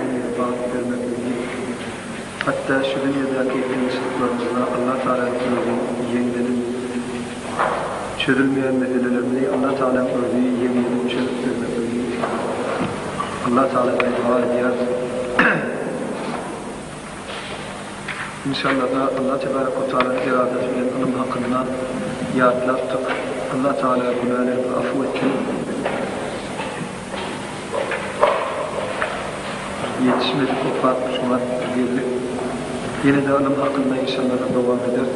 Ömrüňizi bagtly bermeklik diýip, hatda şu dünýedäki kynçylyklarymyzda Alla Tagala ýüzlenmek ýeňlediň. Çözülmeýän meselelerimizi Alla Tagalaň özi ýeňlediň çözüp bermeklik diýip, Alla Tagaladan doga edýäris. Inşallada Allah tebarek we taalany eradasy bilen ylym hakynda ýatlapdyk. Allah taala günälerimi afuw etsin. Ýetişmedik okap şuňa geldik. Ýenede ylym hakynda inşallada dowam ederis.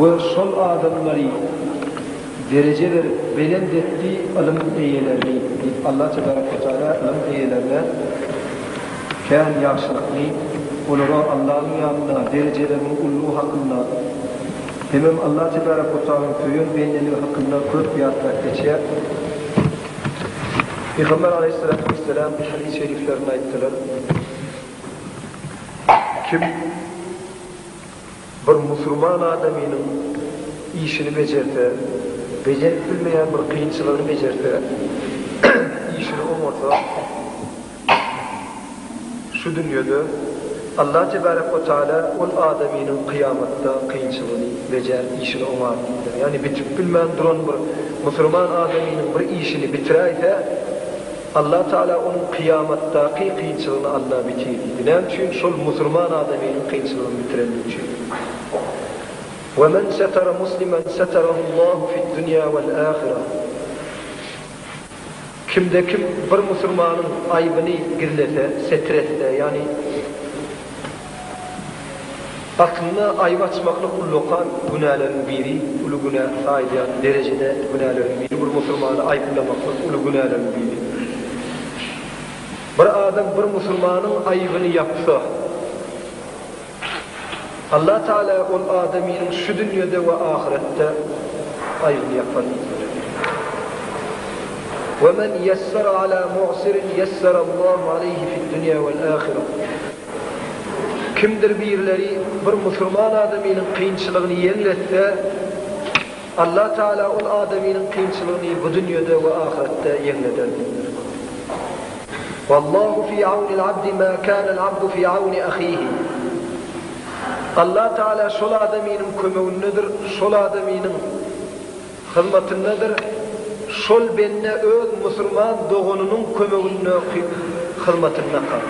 We şol adamlary dereje berip belent etdi ylym eýelerini diýip Allah tebarek we teala ylym eýelerine kän ýagşylykny olara Allahyň ýanynda derejeleriniň ullugy hakynda hemem Allah tebarek we tealanyň söýen bendeligi hakynda köp ýatlap geçýär Pygamber aleýhyssalatu wesselam hadys şeriflerinde aýtdylar Kim Bir musulman adamynyň işini bejerse, bejerip bilmeýän bir kynçylygyny bejerse, işini oňarsa, şu dünýede Allah tebärek we taala ol adamynyň kyýamatda kynçylygyny bejer, işini oňar diýdiler. Ýagny bitip bilmän duran bir musulman adamynyň bir işini bitiräýse, Allah Taala onuň kyýamatdaky kynçylygyny Alla bitir diýdi. Näme üçin? Şol musurman adamynyň kynçylygyny bitirendigi üçin. We men setara muslimen setarahullahu fid-dunýa wal-ahirah. Kimde kim bir musurmanyň aýbyny gizlese, setir etse, ýagny, Aslynda aýyp açmaklyk ullakan günäleriň biri, uly günä saýylýan derejede günäleriň biri, bir musulmany aýyplamaklyk uly günäleriň biri. Bir adam bir musulmanyň aýybyny ýapsa, Allah Tagala ol adamynyň şu dünýede we ahyretde aýybyny ýapar diýdiler. Wemen yessara ala mu'sirin yessarallahu aleyhi fid-dunya wal-ahira. Kimdir birileri bir musulman adamynyň kynçylygyny ýeňletse, Allatagala ol adamynyň kynçylygyny bu dünýede we ahyretde ýeňleder diýipdir. Wallahu fi awnil abdi ma kanal abdu fi awni ahihi. Allatagala şol adamynyň kömegindedir, şol adamynyň. hyzmatyndadyr, şol bende öz musulman doganynyň kömegindäki hyzmatynda kal.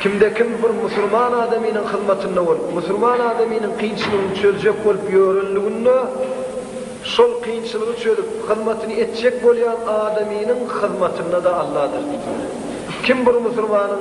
Kimde-kim bir musulman adamynyň hyzmatynda bolup, musulman adamynyň kynçylygyny çözjek bolup ýörenliginde, şol kynçylygy çözüp, hyzmatyny etjek bolýan adamynyň hyzmatynda-da Alladyr diýýär. Kim bir musulmanyň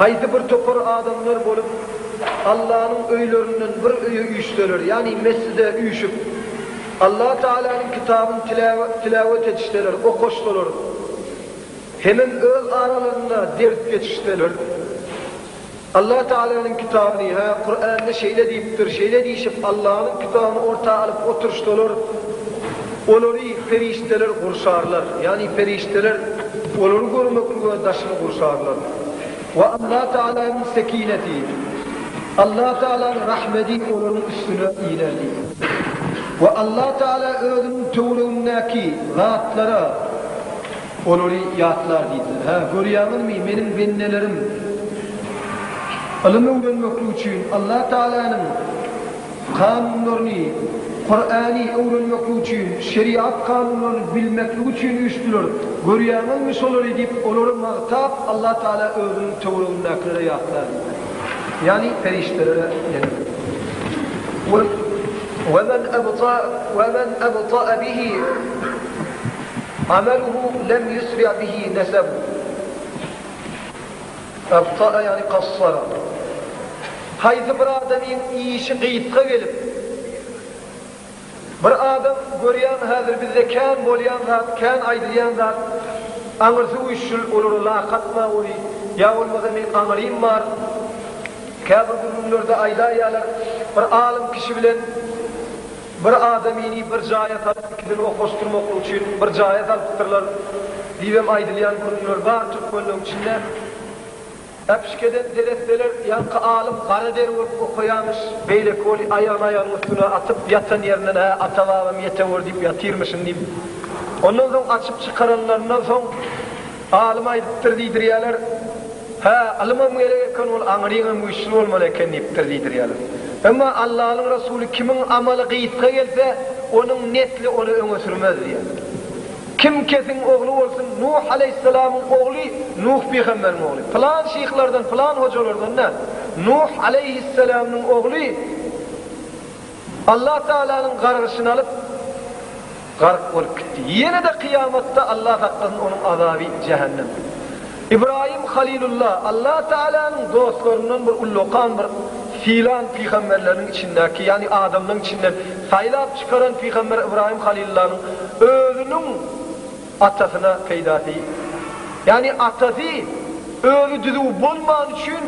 Haýsy bir topar adamlar bolup, Allanyň öýlerinden bir öýe üýşseler, ýagny mesjide üýşüp, Allah Tagalanyň kitabyn tiläwet edişseler, okaşsalar, hemem öz aralarynda ders geçişseler, Allah Tagalanyň kitabyny, hä, Kuranda şeýle diýipdir, şeýle diýşip, Allanyň kitabyny orta alyp oturyşsalar, Olary perişdeler gurşarlar, ýagny perişdeler olary görmeklige daşyny gurşarlar. We Allah Tagalanyň sekineti, Allah Tagalanyň rahmeti olaryň üstüne inerdi. We Allah Tagala Özüniň töweregindäki zatlara olary ýatlar diýdiler. Hä, görýäňizmi, Meniň bendelerim ylym öwrenmeklik üçin Allah Tagalanyň Kanunlaryny, Kurany, öwrenmeklik üçin, şeriat kanunlaryny bilmeklik üçin üýşdüler. Görýäňizmi şolary diýip, olary magtap, Allah Taala özüniň töweregindäkilere ýatlady. Ýagny perişdelere ýene-de. Kul, we men ebta, we men ebta bihi amaluhu lem yusri bihi nesebuh. Gassara ýagny Kassara. Haýsy bir adamyň işi gysga gelip, bir adam görýän häzir bizde kän bolýan zat, kän aýdylýan zat, aňyrsy güýçlül, olara lak atma ony, ýa bolmasa meň aňyrym bar, käbir gürrüňlerde aýdaýýalar, bir alym kişi bilen, Bir adamyny bir jaýa salyp ikisini okaşdyrmaklyk üçin bir jaýa salypdyrlar diýibem aýdylýan gürrüňler bar türkmenleň içinde. Äpişgeden seretseler ýaňky alym gara deri bolup okaýamyş, beýleki weli aýagyny aýagynyň üstüne atyp ýatan ýerinden hä ata babam ýetewür diýip ýatyrmyşyn diýip ondan soň açyp çykaranlaryndan soň Alym aýdypdyr diýdirýärler. Hä, ylymam gerek eken, ol aňryňam güýçli bolmaly eken diýipdir diýdirýärler. Emma Allanyň Resuly kimiň amaly gysga gelse, onuň nesli ony öňe sürmez diýýär. Kim kesiň ogly bolsun, Nuh aleýhissalamyň ogly Nuh pygamberiň ogly. Pylan şyhlardan, pylan hojalardan däl. Nuh aleýhissalamyň ogly. Allah Tagalanyň gargyşyny alyp, gark bolup gitdi. Ýene-de kyýamatda Allah saklasyn onuň azaby jähennem. Ybraýym Halilulla Allah Tagalanyň dostlaryndan bir ullakan bir sylan pygamberleriniň içindäki, ýagny adamlaryň içinden saýlap çykaran pygamber Ybraýym Halilullanyň özüniň, Atasyna peýda degil. Ýagny atasy özi düzüw bolmany üçin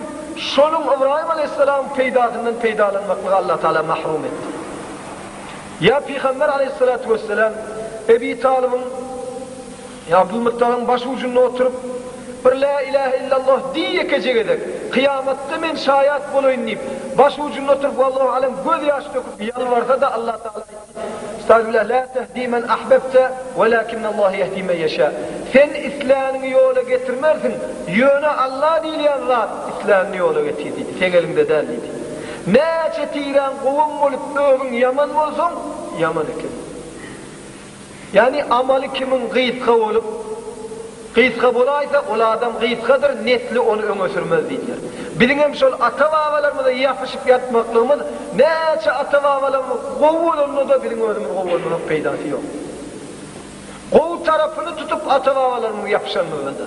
şonuň Ybraýym alaýhyssalamyň peýdasyndan peýdalanmaklygy Allah Tagala mahrum etdi. Ýa Pygamber alaýhyssalatu wessalam Ebi Talybyň ýa Abdulmyttalyň baş ujunda oturyp bir Lä ilähe illalloh diý ýekeje gezek, kyýamatda men şaýat bolaýyn diýip, baş ujunda oturyp walloh alem göz ýaş döküp ýalbarsa-da Allah Tagala Estagfirullah la tehdi men ahbebte welakinnallah yehdi men yeşâ Sen isläniňi ýola getirmersiň, ýöne Alla diýilýän zat islänini ýola getir diýdi. Seň eliňde däl diýdi. Näçe tirän gowam bolup özüň ýaman bolsaň, ýaman ekeniň. Ýagny amaly kimin gysga bolup, gysga bolaýsa, ol adam gysgadyr, nesli ony öňe sürmez diýdiler. Biziňem şol ata-babalarymyza ýapyşyp ýatmaklygymyz, näçe ata-babalarymyz gowy bolanda-da biziň özümiz gowy bolmasak peýdasy ýok. Gowy tarapyny tutup ata-babalarymyza ýapyşanymyzdan-da,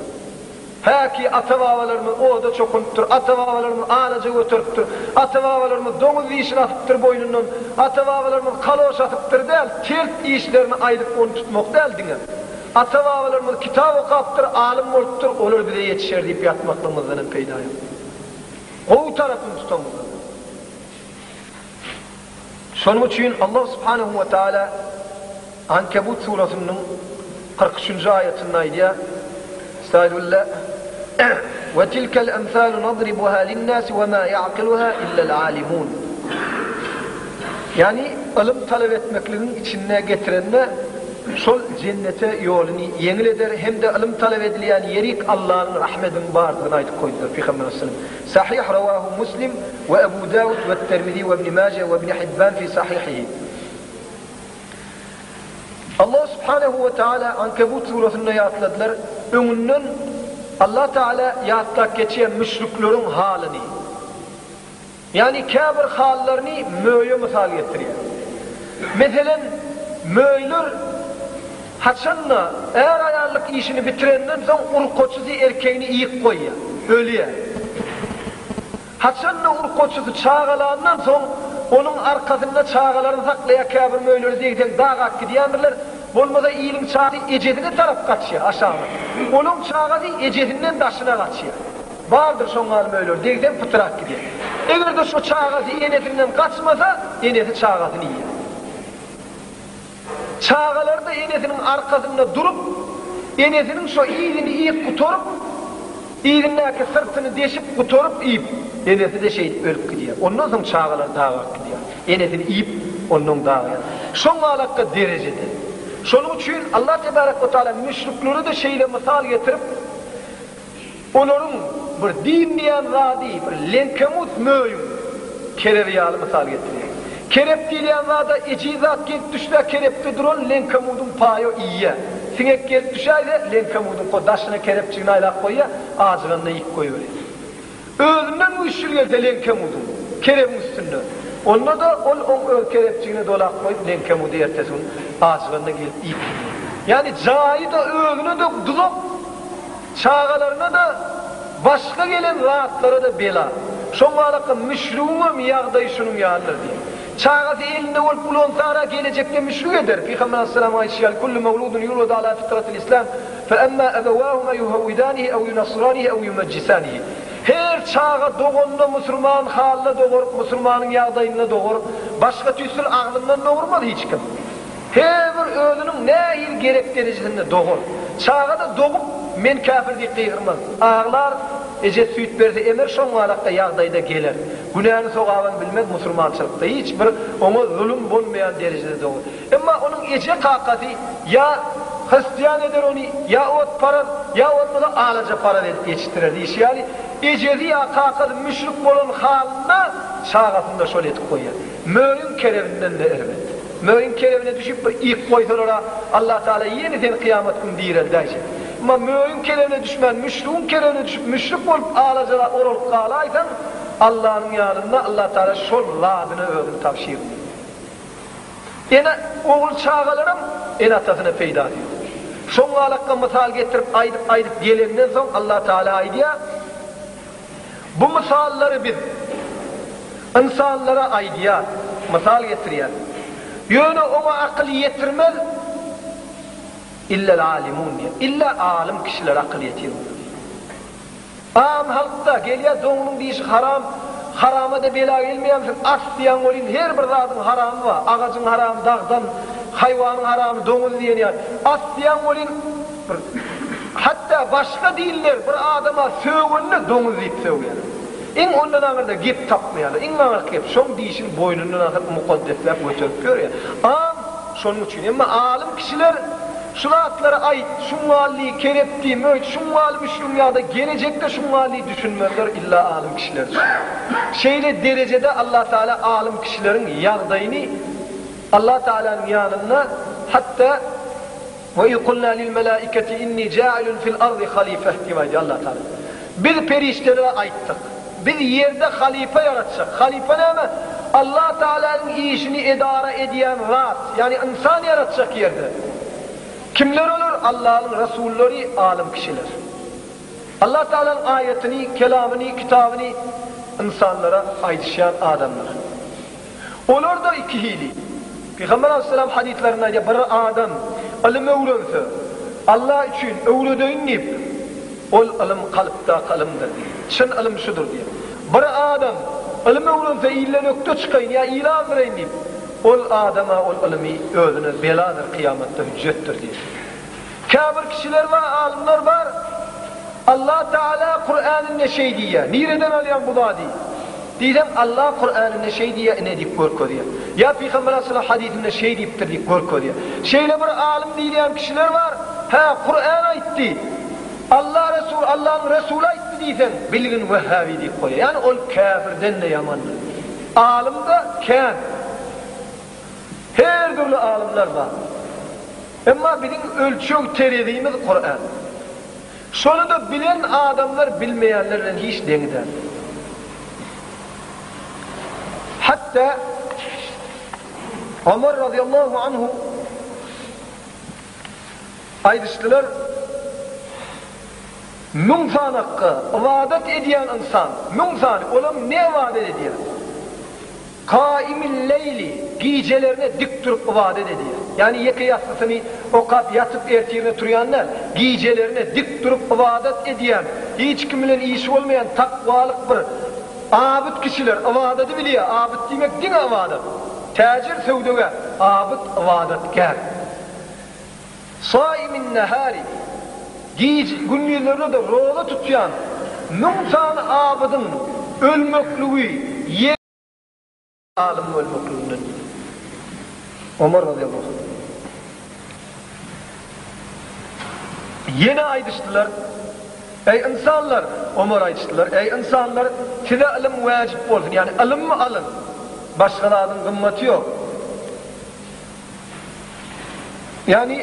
Häki, ata-babalarymyz oda çokunypdyr, ata-babalarymyz alaja göteripdir, ata-babalarymyz doňuz dişini asypdyr boýnundan, ata-babalarymyz kaloş asypdyr däl, tert işlerini aýdyp ony tutmak däl diňe. Ata-babalarymyz kitap okapdyr, alym bolupdyr, olar bize ýetişer diýip ýatmaklygymyzdan hem peýda ýok. Gowy tarapyny tutaňyzlar. Şonuň üçin Allah subhanehu we taala Ankebut surasynyň kyrk üçünji aýatynda aýdýar, Estagfirulla, Ve tilkel emsalu nadribuha linnasi ve ma ya'kiluha illel alimun. Ýagny ylym talap etmekligiň içinde getirende şol jennete ýoluny ýeňil eder hem-de ylym talap edilýän ýerik Allanyň rahmediniň bardygyny aýdyp goýdular Pygamberimiz sallam. Sahyh Rawahu Muslim we Ebu Dawud we Termizi we Ibn Maje we Ibn Hibban fi Sahihihi. Allah subhanehu we taala Ankebut surasynda ýatladylar, öňünden Allah taala ýatlap geçýär müşrikleriň halyny. Ýagny käbir hallaryny möýe mysal getirýär. Meselen, möýler, Haçan-da, är-aýallyk işini bitirenden soň urkaçysy erkegini iýip goýýar, ölýär. Haçan-da, urkaçysy çagalandan soň, onuň arkasynda çagalaryny saklaýar, käbir möýleri zeý-zeň daga atyp gidýändirler, bolmasa iliň çagy ejesine tarap gaçýar, aşagyna. Onuň çagasy ejesinden daşyna gaçýar. Bardyr şoň ýaly möýleri, degseň pytyr atyp gidýär. Eger-de şo çagasy enesinden gaçmasa, enesi çagasyny iýýär. Çagalarda enesiniň arkasynda durup, enesiniň şo yzyny iýip gutaryp, yzyndaky syrtyny deşip gutaryp iýip, enesi-de şeýdip ölüp gidýär. Ondan soň çagalar daga alyp gidýär. Enesini iýip, onnoň dagýar. Şoň galakda derejede. Şonuň üçin Allah tebarek we taala müşriklere-de şeýle mysal getirip, Olaryň bir din diýýän zady bir leňkemus möýüň kerebi ýaly mysal getirýär. Kerep diýilýän zada ejiz zat gelip düşse kerepde duran leňkemudyň paýo iýýär. Siňek gelip düşäýse leňkemudyňko daşyna kerepjigini aýlap goýýar, ajyganda iýip goýberýär. Özünden güýçli gelse leňkemuduň, kerebiň üstünde. Onda-da ol oň öz kerebjigine dolap goýup leňkemudy ertesi gün ajyganda gelip iýip gidýär. Ýagny jaýy-da, özüne-de duzak, çagalaryna-da, başga gelen zatlara-da bela. Şoň balakam müşrigiňem ýagdaýy şunuň ýalydyr diýýär. Çagasy elinde bolup ulansara gelejekde müşrik eder. Pygamber alaýhyssalamyň aýdyşy ýaly, Kullu mewludun ýuladu ala fitratil islam. Fe emmâ ebewâhuma yuhewwidânihi ew yunassirânihi ew yumejjisânihi Her çaga doganyny musurman halyna dogaryp, musurmanyň ýagdaýynda dogaryp, başga tüýsül aglyndan dogurmaz hiç kim. Her bir özüniň nähili gerek derejesinde dogur. Çaga-da dogup, men käpir diýip gygyrmaz. Aglar, ejesi süýt berse emer şoňňalakda ýagdaýda geler. Günäni sogaban bilmez musurmançylykda hiç bir oňa zulum bolmaýan derejede dogur. Emma onuň eje-kakasy ýa hristiýan eder ony, ýa otparaz, ýa bolmasa alajaparaz edip ýetişdirer diýşi ýaly, ejesi ýa kakasy müşrik bolan halynda çagasyny-da şol edip goýýar. Möýüň kerebinden-de erbet. Möýüň kerebine düşüp bir ýyk goýsalar-a, Allatagala ýene seni kyýamat güni direldäýjek. Emma möýüň kerebine düşmän, müşrigiň kerebine düşüp, müşrik bolup alajala oralyp galaýsaň, Allanyň ýanynda Allatagala şol ladyna özüni tabşyrdy. Ene, ogul çagalaram ene-atasyna peýdaly ýok. Şoňňalakga mysal getirip aýdyp-aýdyp gelenden soň Allah Tagala aýdýar, Bu mysallary Biz ynsanlara aýdýas, mysal getirýäs. Ýöne oňa akyl ýetirmez illel-alimun diýýär. Ille alym kişilere akyl ýetir bolýar diýýär. Aam halkda gelýä doňunyň dişi haram haramada bela gelmeýämsin at diýäň bolýyn her bir zadyň haramy ba agajyň haramy dagdan haýwanyň haramy doňuz diýen ýaly at diýäň bolýyn bir hatda başga dinler bir adama sögende doňuz diýip sögýäler iň ondan aňyrda gep tapmaýalar iň aňyrky gep şoň dişini boýnundan asyp mukaddesläp göterip ýörýä aam şonuň üçin emma alym kişiler Şu zatlary aýt, şuň wally kerep diýim, öýt, şuň wally müşgüň ýa-da gelejekde şuň wally düşünmezler, illa alym kişiler düşüner. Şeýle derejede Allatagala alym kişileriň ýagdaýyny Allatagalanyň ýanynda hatda Wa iz kulna lil-melaikati inni ja'ilun fil-ardi halifeh diýip aýdýar Allatagala. Biz perişdelere aýtdyk, Biz ýerde halypa ýaratjak. Halypa näme? Allah Tagalanyň işini edara edýän zat, ýagny ynsan ýaratjak ýerde. Kimler olar? Allanyň rasullary, alym kişiler. Allah Tagalanyň aýatyny, kelamyny, kitabyny ynsanlara aýdyşýan adamlar. Olar-da iki hili. Pygamber alaýhyssalam hadyslarynda aýdýar, Bir adam ylym öwrense, Allah üçin öwredeýin diýip, ol ylym kalpdaky ylymdyr diýip, çyn ylym şudur diýip. Bir adam ylym öwrense ilden ökde çykaýyn ýa il azdyraýyn diýip, ol adama ol ylymy özüne beladyr kyýamatda hüjjetdir diýip. Käbir kişiler bar, alymlar bar, Allah Tagala Kuräninde şeý diýýär, nireden alýaň bu zady? diýseň, Allah Kuräninde şeý diýýär ine diýip görkezýär. Ýa Pygamber Aleyhisselam hadysynda şeý diýipdir diýip görkezýär. Şeýle bir alym diýilýän kişiler bar, hä, Kurän aýtdy, Allah Resul, Allah'yň Resuly aýtdy diýseň, bilgin wehhabi diýip goýýar. Ýagny ol käbirden-de ýamandyr. Alym-da kän. Her dürli alymlar bar. Emma biziň ölçeg terezimiz Kuran. Şony-da bilen adamlar bilmeýänler bilen hiç deň däl. Hatda Omar razyýallahu anhu aýdyşdylar, Müň sanakga ybadat edýän ynsan, müň sany, olam ne ybadat edýär? Kaýimil-leýli, gijelerine dik durup ybadat edýär. Ýagny ýeke ýassysyny okap ýatyp ertirine turýan däl, gijelerine dik durup ybadat edýän, hiç kim bilen işi bolmaýan takwalyk bir abyt kişiler ybadady bilýär, abyt diýmek diňe ybadat. Täjir, söwdagär, abyt, ybadatgär. Saýimin-nähäri, gije, gündizlerine-de roza tutýan müň sany abydyň ölmekligi, ýe. Alym bolmaklygyndan ýüz öwürdi. Omar radiyallahu anh. Ýene aýdyşdylar, Eý, ynsanlar! Omar aýdyşdylar, Eý, ynsanlar! Size ylym wäjip bolsun, ýagny ylymmy alyň. Başga zadyň gymmaty ýok. Ýagny.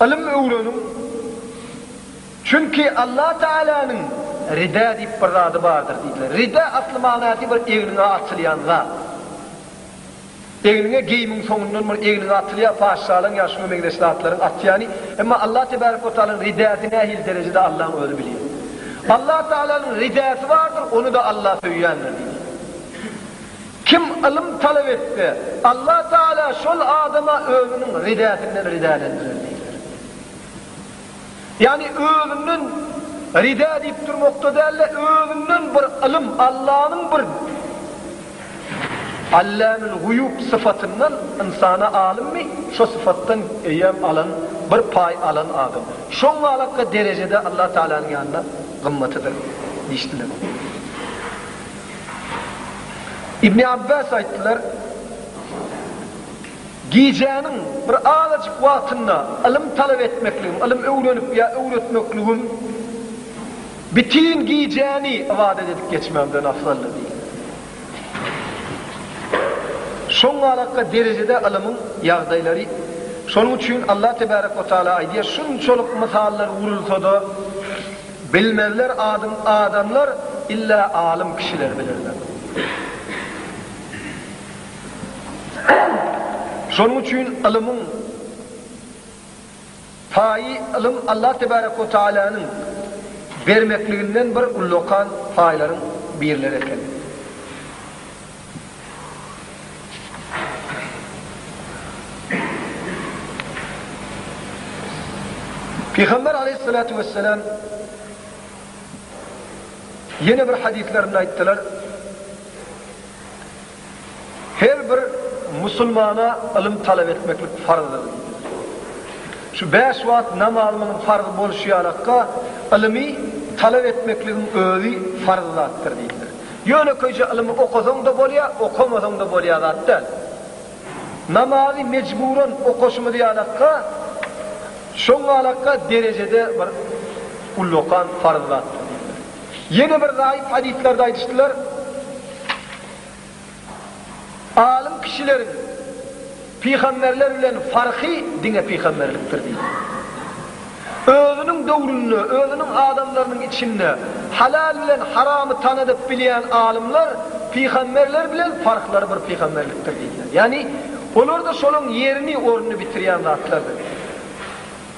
Ylym öwreniň, çünki Allah Tagalanyň rida diýip bir zady bardyr diýdiler. Rida asly manasy bir egniňe atylýan zat. Egniňe geýimiň soňundan bir egniňe atylýar, patyşalaň ýa şuňa meňzeş zatlaryň atýany. Emma Allah Tebarek we Tagalanyň ridasy nähili derejede Allaň özi bilýär. Allah Tagalanyň ridasy bardyr, ony-da Allah söýýändir diýdiler. Kim ylym talap etse, Allah Tagala şol adama Özüniň ridäsinden ridälendirer diýdiler. Ýagny özünden rida diýip durmakda däl-de, özünden bir ylym, Allanyň bir Allamül Guýub syfatyndan ynsana alymmy, şo syfatdan eýýäm alan, bir paý alan adam. Şoň galakga derejede Allah Tagalanyň ýanynda gymmatydyr diýişdiler. Ibni Abbas aýtdylar, Gijäniň bir azajyk wagtynda ylym talap etmekligim, ylym öwrenip ýa öwretmekligim bütin gijäni ybadat edip geçmegimden afzaldyr diýdi. Şoňalaka derejede ylymyň ýagdaýlary, şonuň üçin Allah tebärek we taala aýdýar, Şunçalyk mysallar gurulsa-da, Bilmezler adyň adamlar illa alym kişiler bilerler. Şonuň üçin ylymyň paýy ylym Allah tebarek we tagalanyň bermekliginden bir ullakan paýlaryň birleri eken. Pygamber aleýhissalatu wessalam ýene bir hadyslarynda aýtdylar, Her bir musulmana ylym talap etmeklik farzdyr diýdiler. Şu bäş wagt namazymyzyň farz bolşy ýalakka, ylymy talap etmekligiň özi farz zatdyr diýdiler. Ýönekeýje ylmy okasaň-da bolýar, okamasaň-da bolýan zat däl. Namazy mejburan okaşymyz ýalakka, şoň ýalakka derejede bir ullakan farz zatdyr diýdiler. Ýene bir zaýyf hadyslarda aýdyşdylar. Alym kişileriň pygamberler bilen farky diňe pygamberlikdir diýdi. Özüniň döwründe, özüniň adamlarynyň içinde halal bilen haramy tanadyp bilýän alymlar pygamberler bilen farklary bir pygamberlikdir diýdiler. Ýagny olarda şolaň ýerini, ornuny bitirýän zatlardyr diýdiler.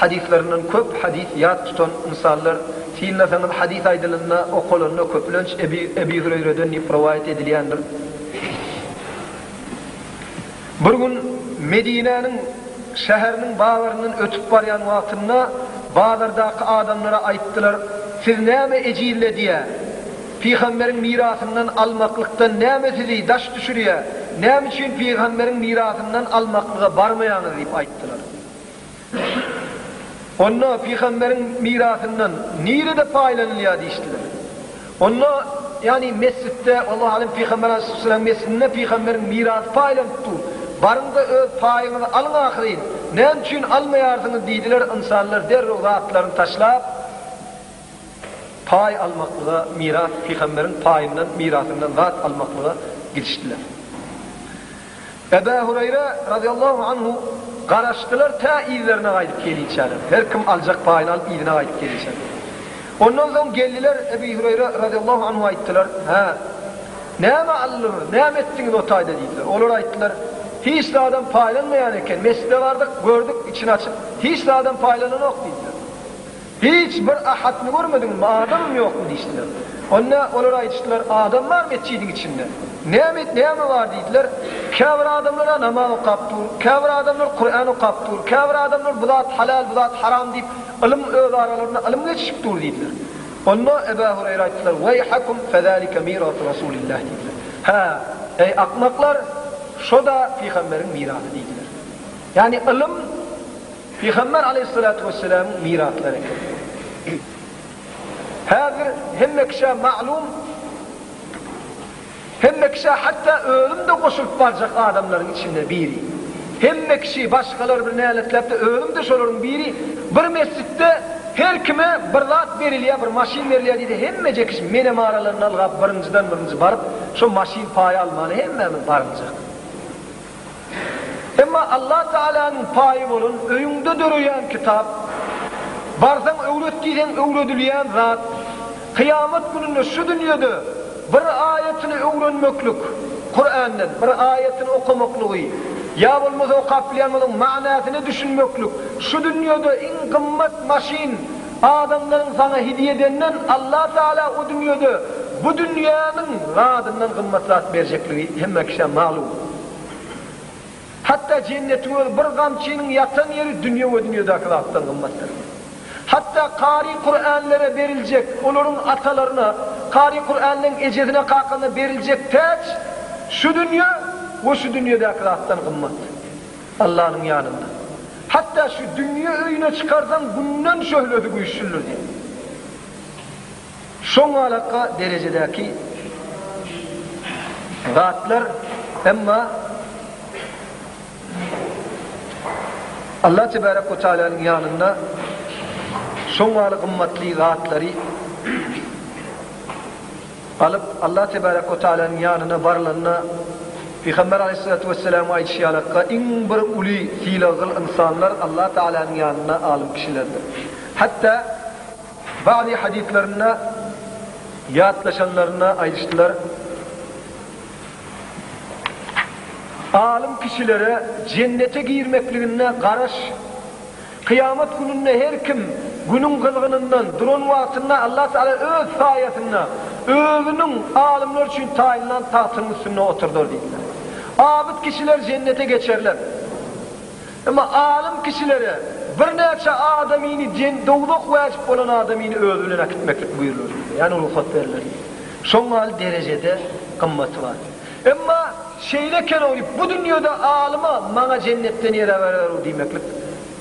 Hadyslaryndan köp hadys ýat tutan ynsanlar, synlasaňyz hadys aýdylanda, okalanda köplenç Ebu Ebu Hüreýreden diýip rowaýat edilýändir. Bir gün Medinäniň şäheriniň bazaryndan ötüp barýan wagtynda bazardaky adamlara aýtdylar, Siz näme ejizledýä? Pygamberiň mirasyndan almaklykdan näme sizi daş düşürýä? Näme üçin pygamberiň mirasyndan almaklyga barmaýaňyz? diýip aýtdylar. Onda pygamberiň mirasyndan nirede paýlanylýar diýişdiler. Onda, ýagny mesjitde, Allahu alem, pygamber aleyhisselam mesjidinde pygamberiň mirasy paýlanyp dur. Baryň-da öz paýyňyzy alyň ahyryn. Näme üçin almaýarsyňyz diýdiler, ynsanlar derrew zatlaryny taşlap, paý almaklyga, miras, pygamberiň paýyndan, mirasyndan zat almaklyga gidişdiler. Ebu Hureyre, razyýallahu anhu, Garaşdylar tä yzlaryna gaýdyp geliýçäler. Her kim aljak paýyny alyp yzyna gaýdyp geliýçäler. Ondan soň geldiler, Ebu Hureyre, razyýallahu anhu, aýtdylar, Hä, näme aldylar, näme etdiňiz o taýda? diýdiler. Olar aýtdylar, Hiç zadam paýlanmaýan eken, mesjide bardyk, gördük, içini açyp, hiç zadam paýlananok diýdiler. Hiç bir Ahadyny görmediňmi, adamym ýokmy? diýişdiler. Onda olar aýdyşdylar, Adam bar metjidiň içinde. Näme, näme bar? diýdiler. Käbir adamlar-a namaz okap dur, käbir adamlar Kuran okap dur, käbir adamlar bu zat halal, bu zat haram diýip, ylym özaralarynda ylym geçişip dur diýdiler. Onda Eba Hureýra aýtdylar, Weýhakum, fezalike mirasu Rasulillahi diýdiler. Hä, eý, akmaklar, şo-da pygamberiň mirasy diýdiler. Ýagny ylym. Pygamber aleýhissalatu wesselamyň miraslary eken. Häzir hemme kişä maglum, hemme kişä hatda özüm-de goşulyp barjak adamlaryň içinde biri. Hemme kişi, başgalar bir näletlapdy, özüm-de şolaryň biri. Bir mesjitde her kime bir zat berilýär, bir maşyn berilýär diýdi, hemme jekiş menem aralarynda ylgap birinjiden birinji baryp, şo maşyn paýy almaly hemmämiz barynjak. Emma Allah Tagalanyň paýy bolan öýüňde döreýän kitap, barsaň öwret diýseň öwredilýän zat, kyýamat gününde şu dünýede bir aýatyny öwrenmeklik, Kurandan bir aýatyny okamaklygy, ýa bolmasa okap bilýän boluň manysyna düşünmeklik, şu dünýede iň gymmat maşyn, Adamlaryň saňa hidýe edenden Allah Tagala o dünýede bu dünýäniň zadyndan gymmatrak berjekligi hemme kişä malum. Hatda jennetiň özi bir gamçynyň ýatan ýeri dünýe we dünýedäki zatdan gymmatdyr. Hatda kary Kuranlere beriljek, olaryň atalaryna, kary Kuranlaryň ejesine kakasyna beriljek täç şu dünýe we şu dünýedäki zatdan gymmat. Allanyň ýanynda. Hatda şu dünýe öýüne çykarsaň günden şöhlesi güýçlüdir diýen. Şoňalaka derejedäki zatlar emma Allah tebarek we taalanyň ýanynda şoňaly gymmatly zatlary Alyp, Allah tebärek we tealanyň ýanyna barylanda, Pygamber aleýhissalatu wesselamiň aýdyşy ýalakka, iň bir uly sylaggyl ynsanlar Allah tealanyň ýanynda alym kişilerdir. Hatda bady hadyslarynda ýatlaşanlarynda aýdyşdylar, Alym kişilere jennete girmekliginde garaş, Kyýamat gününde her kim Günüň gyzgynyndan duran wagtynda Allah Tagala Öz saýasynda Özüniň alymlar üçin taýynlan tagtynyň üstünde oturdar diýdiler. Abyt kişiler jennete geçerler. Emma alym kişilere birnäçe adamyny dowzah wajyp bolan adamyny özi bilen äkitmeklik buýrular diýdiler, ýagny rugsat berler diýdiler. Şoň mahaly derejede gymmaty bar. Emma şeýle kelewlik bu dünýede alyma maňa jennetden ýer aberer-ow diýmeklik.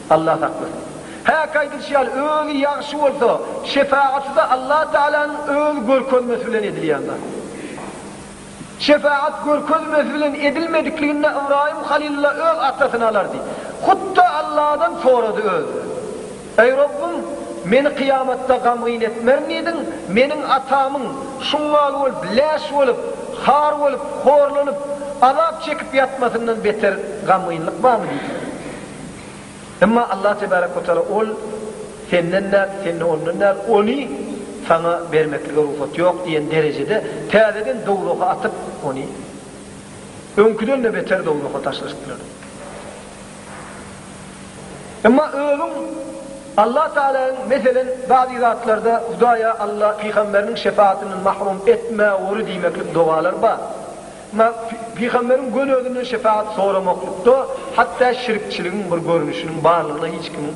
Allah saklasyn. Häki aýdylyşy ýaly, özi ýagşy bolsa, şepagat-da Allatagalaň öz görkezmesi bilen edilýän zat. Şepagat görkezmesi bilen edilmedikliginde Ybraýym Halylulla öz atasyny alardy. Hut-da Alladan sorady özüne. Eý Rabbym, meni kyýamatda gamgyn etmerin diýdiň, meniň atamyň, şuňňal bolup, läş bolup, har bolup, horlanyp, azap çekip ýatmasyndan beter gamgynlyk barmy diýdiň. Emma Allah tebärek we taala, Ol senden däl, sen-de ondan däl, ony saňa bermeklige rugsat ýok diýen derejede täzeden dowzaha atyp, ony öňküden-de beter dowzaha taşlaşdyrar. Emma özüň Allah Tagalaň, meselen, bazy zatlarda Hudaýa, Alla, pygamberiniň şefaatyndan mahrum etme ory diýmeklik dogalar bar. Emma pygamberiň göni özünden şefaat soramaklykda hatda şirkçiligiň bir görnüşiniň barlygyna hiç kimiň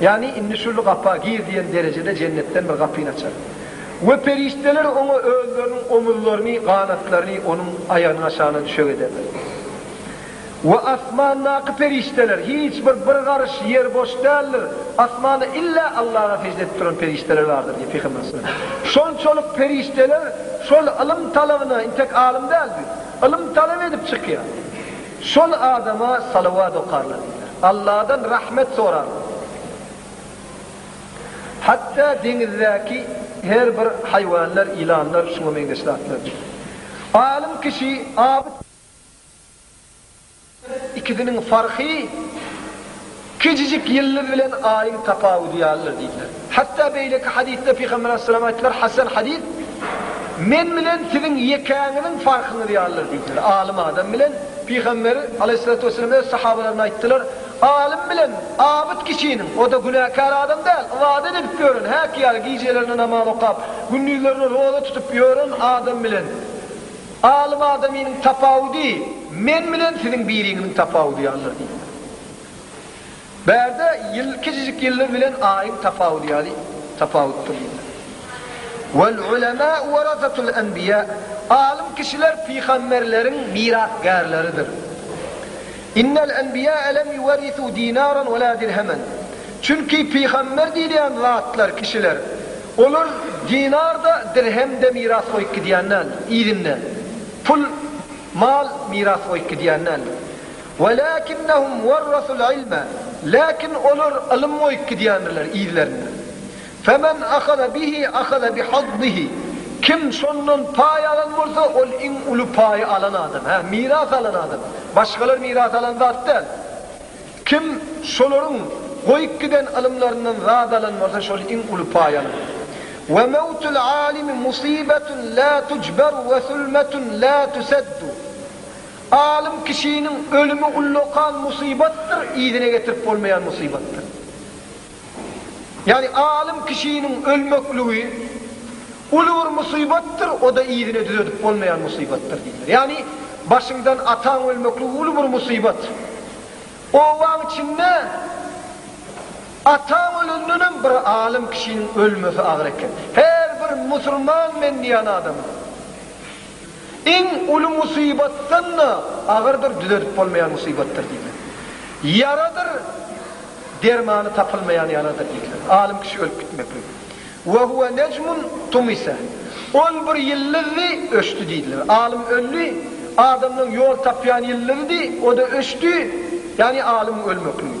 Ýagny indi şul gapa gir diýen derejede jennetden bir gapyny açar. We perişdeler oňa özleriniň omuzlaryny, ganatlaryny onuň aýagynyň aşagyna düşek ederler. We asmandaky perişdeler, hiç bir bir garyş ýer boş däldir, asmanda illa Allaha sežde edip duran perişdeler bardyr diýip Pygamberimiz sallallahu aleyhi ve sellem. Şonçalyk perişdeler şol ylym talabyna, intek alym däldi, ylym talap edip çykýar. Şol adama salawat okarlar diýler. Alladan rahmet sorarlar. Hatda deňizdäki her bir haýwanlar, ýylanlar şuňa meňzeş zatlar diýip. Alym kişi Abyt ikisiniň farky. Kiçijik ýyldyz bilen aýyň tapawudy ýalydyr diýdiler. Hatda beýleki hadysda Pygamber aleyhisselam aýtdylar, Hasan hadys, Men bilen siziň ýekäňiziň farkyňyz ýalydyr diýdiler. Alym adam bilen Pygamber aleyhissalatu wesselam öz sahabalaryna aýtdylar, Alym bilen abyt kişiniň, o-da günäkär adam däl, ybadat edip ýören, häki ýaly gijelerine namaz okap, gündizlerine roza tutup ýören adam bilen alym adamynyň tapawudy Men bilen siziň biriňiziň tapawudy ýalydyr diýdiler. Bärde ýyl kiçijik ýyllar bilen aýyň tapawudy ýaly tapawutdyr diýdiler. Wal ulemâ'u warasatul enbiyâ, Alym kişiler pygamberleriň mirasgärleridir. Innel enbiyâ'e lem yuwerrisû dînâran we lâ dirhemen, Çünki pygamber diýilýän zatlar, kişiler, olar dinar-da, dirhem-de miras goýup gidýän däldir, yzynda pul, mal miras goýup gidýän däldir. Welakinnehum werrasul ilme, Lakin olar ylym goýup gidýändirler yzlerinde. Femen ahaza bihi ahaza bi hazzihi, Kim şondan paý alan bolsa, ol iň uly paýy alan adam. Hä, miras alan adam. Başgalar miras alan zat däl. Kim şolaryň goýup giden ylymlaryndan zat alan bolsa, şol iň uly paý alan. Ve mewtul alimi musibetun la tucberu ve sulmetun la tuseddu. Alym kişiniň ölümi ullakan musybatdyr, yzyna getirip bolmaýan musybatdyr. Ýagny alym kişiniň ölmekligi uly bir musybatdyr, o-da yzyna düzedip bolmaýan musybatdyr diýdiler. Ýagny başyňdan ataň ölmekligi uly bir musybat. Obaň içinde ataň ölendenem bir alym kişiniň ölmesi agyr eken. Her bir musulman men diýýän adamyň Iň uly musybatdan-da agyrdyr, düzedip bolmaýan musybatdyr diýdiler. Ýaradyr, dermany tapylmaýan ýaradyr diýdiler. Alym kişi ölüp gitmeklik. Ve huve nejmun tumise. Ol bir ýyldyzdy, öçdi diýdiler. Alym öldi, adamlaň ýol tapýan ýyldyzydy, o-da öçdi, ýagny alymyň ölmekligi.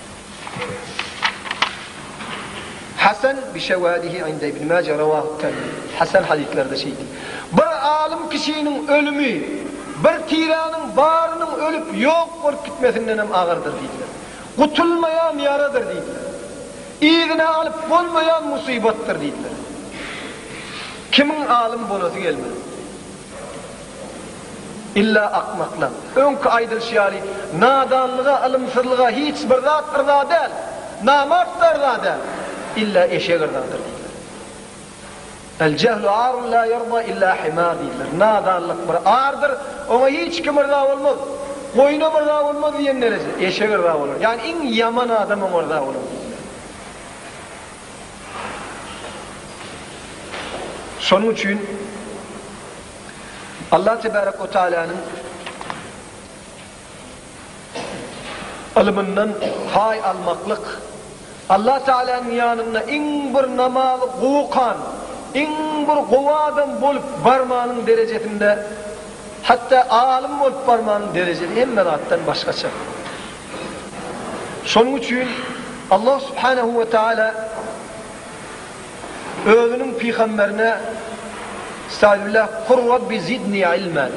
Hasan bi şewâdihi inde Ibn Maje rewâhu Termizi. Hasan hadyslerde şeýdi. Bir alym kişiniň ölümi bir tiräniň barynyň ölüp ýok bolup gitmesindenem agyrdyr diýdiler. Gutulmaýan ýaradyr diýdiler. Yzyna alyp bolmaýan musybatdyr diýdiler. Kimiň alym bolasy gelmez. Illa akmaklar. Öňki aýdylyşy ýaly, nadanlyga, ylymsyzlyga hiç bir zat yrza däl. Namart-da yrza däl. Illa eşek yrzadyr diýdiler. El-jehlu arun la ýerda illa himar diýdiler. Nadanlyk bir ardyr, oňa hiç kim yrza bolmaz. Goýunam yrza bolmaz diýen dereje. Eşek yrza bolar. Ýagny iň ýaman adam oňa yrza bolar diýdiler. Şonuň üçin. Allah tebärek we taäläniň ylmyndan paý almaklyk, Allah taäläniň ýanynda iň bir namazy gowy okan, iň bir gowy adam bolup barmanyň derejesinde, hatda alym bolup barmanyň derejesi hemme zatdan başgaça. Şonuň üçin Allah subhanehu we taäla. Özüniň pygamberine Estagfirullah Kur Rabbi zidni ilmen,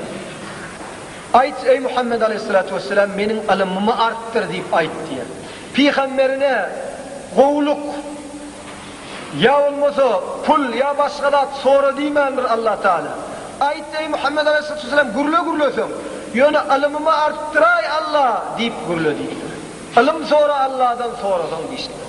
Aýt, eý Muhammet aleýhissalatu wessalam, meniň ylymymy artdyr diýip aýt diýýär. Pygamberine gowulyk ýa bolmasa pul ýa başga zat sora diýmändir Allah Taala. Aýt, eý Muhammet aleýhissalatu wessalam, gürle gürleseň, ýöne ylymymy artdyraý Allah diýip gürle diýipdir. Ylym sora Allahdan sorasaň diýişipdir.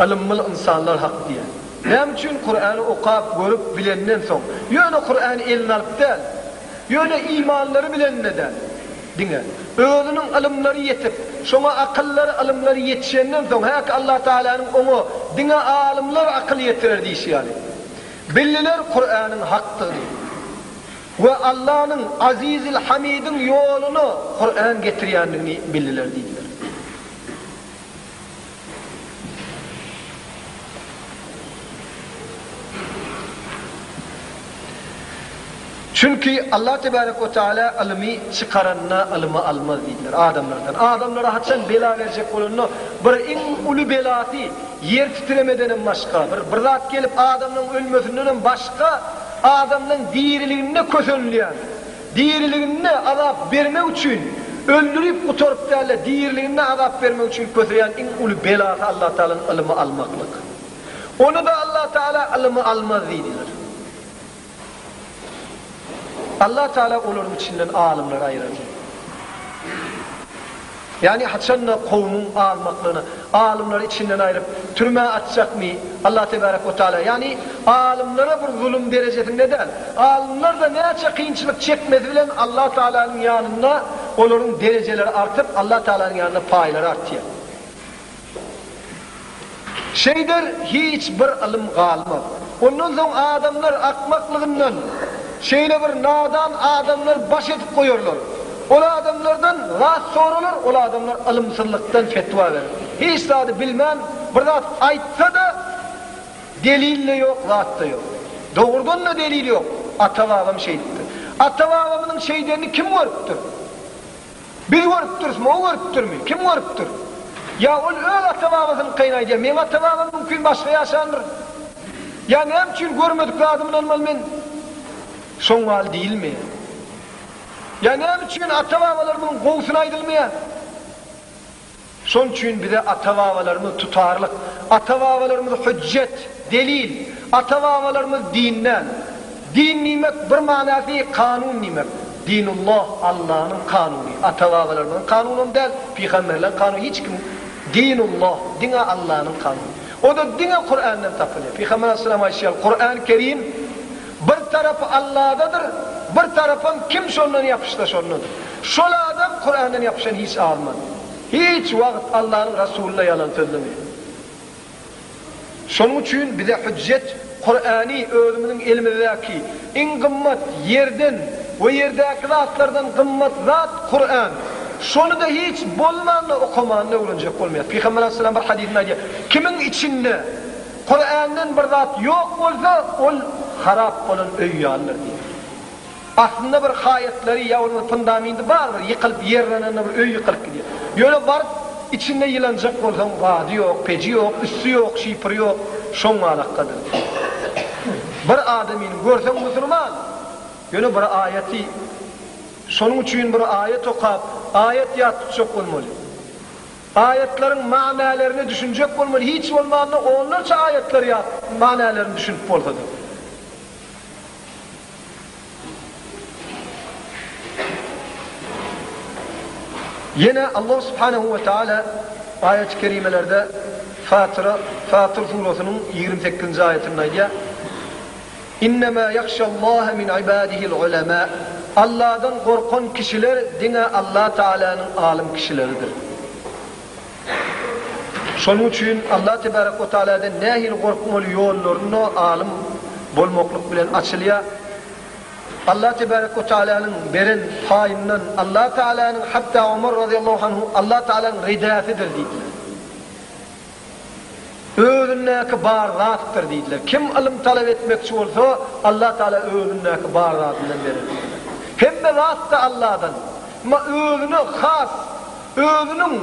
Ylymly ynsanlar hak diýýär. Näme üçin Kurany okap, görüp, bilenden soň, ýöne Kurany eline alyp däl, ýöne imanlary bilende däl, diňe, özüniň ylymlary ýetip, şoňa akyllary, ylymlary ýetişenden soň, häki Allah Tagalanyň oňa diňe alymlar akyl ýetirer diýşi ýaly, bildiler Kuranyň hakdygyny we Allanyň, Azizil Hamidiň ýoluna Kuran getirýändigini bildiler diýdiler. Çünki Allah tebarek we taala ylymy çykaranda ylymy almaz diýdiler adamlardan. Adamlara haçan bela berjek bolanda bir iň uly belasy ýer titremedenem başga, bir bir zat gelip adamlaryň ölmesindenem başga adamlaryň diriliginde kösenilýär. Diriliginde azap bermek üçin, öldürip gutaryp däl-de, diriliginde azap bermek üçin köseýän iň uly belasy Allatagalaň ylymy almaklyk. Ony-da Allatagala ylymy almaz diýdiler. Allatagala olaryň içinden alymlary aýyrardy. Ýagny haçan-da kowumyň almaklygyna, alymlary içinden aýryp, türmä atjakmy Allah tebarek we taala? Ýagny alymlara bir zulum derejesinde däl, alymlar-da näçe kynçylyk çekmesi bilen Allah Taalanyň ýanynda olaryň derejeleri artyp, Allah Taalanyň ýanynda paýlary artýar. Şeýder hiç bir ylym galmaz. Ondan soň adamlar akmaklygyndan şeýle bir nadan adamlar baş edip goýarlar. Ol adamlardan zat soralar, ol adamlar ylymsyzlykdan fetwa berer. Hiç zady bilmän bir zat aýtsa-da, delil-de ýok, zat-da ýok. Dogrudan-da delil ýok. Ata-babam şeýdipdir. Ata-babamynyň şeýdenini kim görüpdir? Biz görüpdirismi, o görüpdirmi? Kim görüpdir? Ýa ol öz ata-babasynyňkyny aýdýar, meň ata-babam mümkin başga ýaşandyr. Ýa näme üçin görmedik zadymy ynanmaly men? Şoň ýaly diýilmeýär. Ýa näme üçin ata-babalaryň gowusyny aýdylmaýar? Şonuň üçin bize ata-babalarymyz tutarlyk, ata-babalarymyz hüjjet, delil, ata-babalarymyz din däl. Din diýmek bir manasy kanun diýmek. Dinulloh, Allanyň kanuny, ata-babalarymyzyň kanunam däl, pygamberleriň kanuny hiç kim Dinulloh, diňe Allanyň kanuny. O-da diňe Kurandan tapylýar. Pygamber aleyhisselam aýtýar, Kuran Kerim, Bir tarapy Alladadyr, bir tarapam kim şondan ýapyşsa şondadyr. Şol adam Kurandan ýapyşan hiç azman. Hiç wagt Allanyň Rasuluna ýalan sözlemeýär. Şonuň üçin bize hüjjet Kurany özümiziň elimizdäki iň gymmat ýerden we ýerdäki zatlardan gymmat zat Kuran. Şonyda hiç bolmanda okamanda öwrenjek bolmaýas. Pygamber aleyhisselam bir hadysynda aýdýar, Kimiň içinde, Kurändan bir zat ýok bolsa, ol harap bolan öý ýalydyr diýýär. Aslynda bir haýatlary ýa bolmasa fundamenty bardyr, ýykylyp ýerlenende bir öý ýykylyp gidýär. Ýöne baryp içinde ýylanjak bolsaň, gady ýok, peji ýok, üsti ýok, şipri ýok, şoň galakgadyr diýýär. Bir adamyny görseň musulman, ýöne bir aýaty şonuň üçin bir aýat okap, aýat ýat tutjak bolmaly. Aýatlaryň manylärini düşünjek bolmaly, hiç bolmanda onlarça aýatlary ýa manylärini düşünip bolsady. Ýene Allah subhanehu we taala aýaty kerimelerde Fatyra, Fatyr surasynyň ýigrimi sekizinji aýatynda aýdýar, Innemâ yahşallâhe min ibâdihil ulemâ, Alladan gorkan kişiler diňe Allah Teâlânyň alym kişileridir. Şonuň üçin Allah Tebârek ve Teâlâdan nähili gorkmaly ýollaryna alym bolmaklyk bilen açylýar. Allah Tebârek ve Teâlânyň beren paýyndan Allah Teâlânyň, hatda Omar razyýallahu anhu Allah Teâlânyň ridäsidir diýdiler. Özündäki bar zatdyr diýdiler. Kim ylym talap etmekçi bolsa, Allah Tagala özündäki bar zadyndan berer diýdiler. Hemme zat-da Alladan. Emma özüne has, özüniň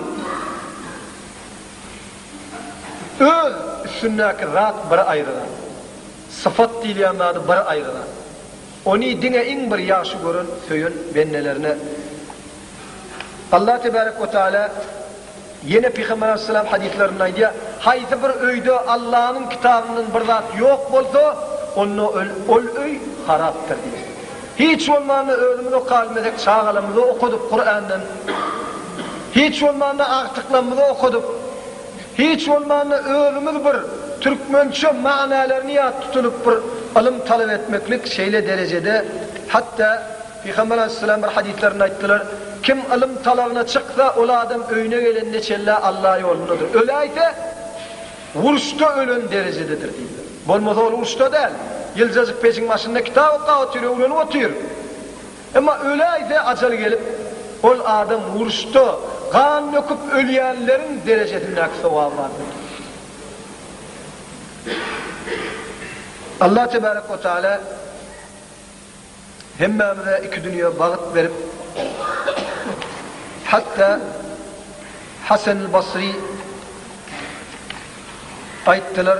öz üstündäki zat bir aýry zat. Sypat diýilýän zady bir aýry zat. Ony diňe iň bir ýagşy gören, söýen bendelerine. Allah tebarek we taala ýene Pygamber alaýhyssalam hadyslarynda aýdýar, Haýsy bir öýde Allanyň kitabyndan bir zat ýok bolsa, onda ol öý harapdyr diýip. Hiç bolmanda özümiz okabilmesek çagalarymyza okadyp Kurandan, hiç bolmanda agtyklarymyza okadyp, Hiç bolmanda özümiz bir türkmençe manylaryny ýat tutunyp bir ylym talap etmeklik şeýle derejede hatda Pygamber aleyhisselam bir hadyslarynda aýtdylar, Kim ylym talabyna çyksa ol adam öýüne gelende çenlä Alla ýolundadyr. Öläýse uruşda ölen derejededir diýdiler. Bolmasa ol uruşda däl, ýyljajyk pejiň başynda kitap okap otyr, öwrenip otyr. Emma öläýse ajaly gelip, ol adam uruşda gan döküp ölýänleriň derejesindäki sogaby bar boldy. Allah tebärek we taala hemmämize iki dünýe bagt berip, hatda Hasan-al-Basri aýtdylar,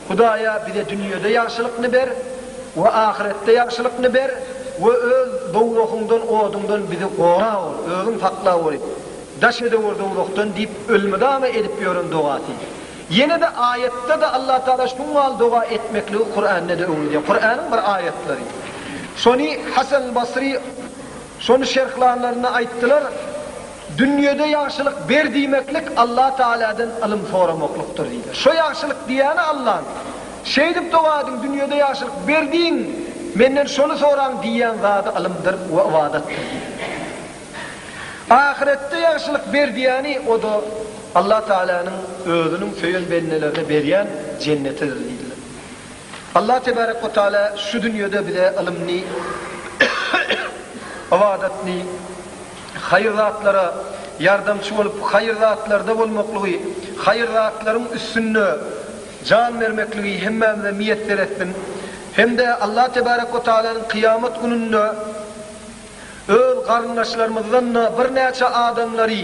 Hudaýa bize dünýede ýagşylykny ber we ahyretde ýagşylykny ber we öz dowzahyňdan, oduňdan bizi gora ol, özüň sakla ol, daş edewür dowzahdan diýip ölmydama edip ýören dogasy. Ýene-de aýatda-da Allah Taala şuň mal doga etmekligi Kurände-de öwredýär. Kuranyň bir aýatlary. Şony Hasan-al-Basry şony şerhlanlarynda aýtdylar. Dünýede ýagşylyk ber diýmeklik Allah Tagaladan ylym soramaklykdyr diýdiler. Şo ýagşylyk diýýäni Allahnyň. Şeýdip doga ediň, dünýede ýagşylyk ber diýiň, Menden şony soraň diýýän zady ylymdyr we ybadatdyr diýdiler. Ahyretde ýagşylyk ber diýýäni, o-da Allah Tagalanyň Özüniň söýen bendelerine berýän Jennetidir diýdiler. Allah Tebarek we Tagala şu dünýede bize ylymny, ybadatny, haýyr zatlara ýardamçy bolup, haýyr zatlarda bolmaklygy, haýyr zatlaryň üstünde jan bermekligi hemmämize miýesser etsin hem-de Allah tebarek we tagalanyň kyýamat gününde öz garyndaşlarymyzdan-da birnäçe adamlary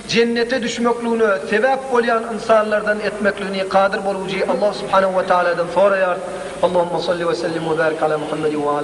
jennete düşmekligine sebäp bolýan ynsanlardan etmekligini kadyr bolujy Allah subhanahu we tagaladan soraýarys. Allahumma salli we sellim we barik ala Muhammedin we ala.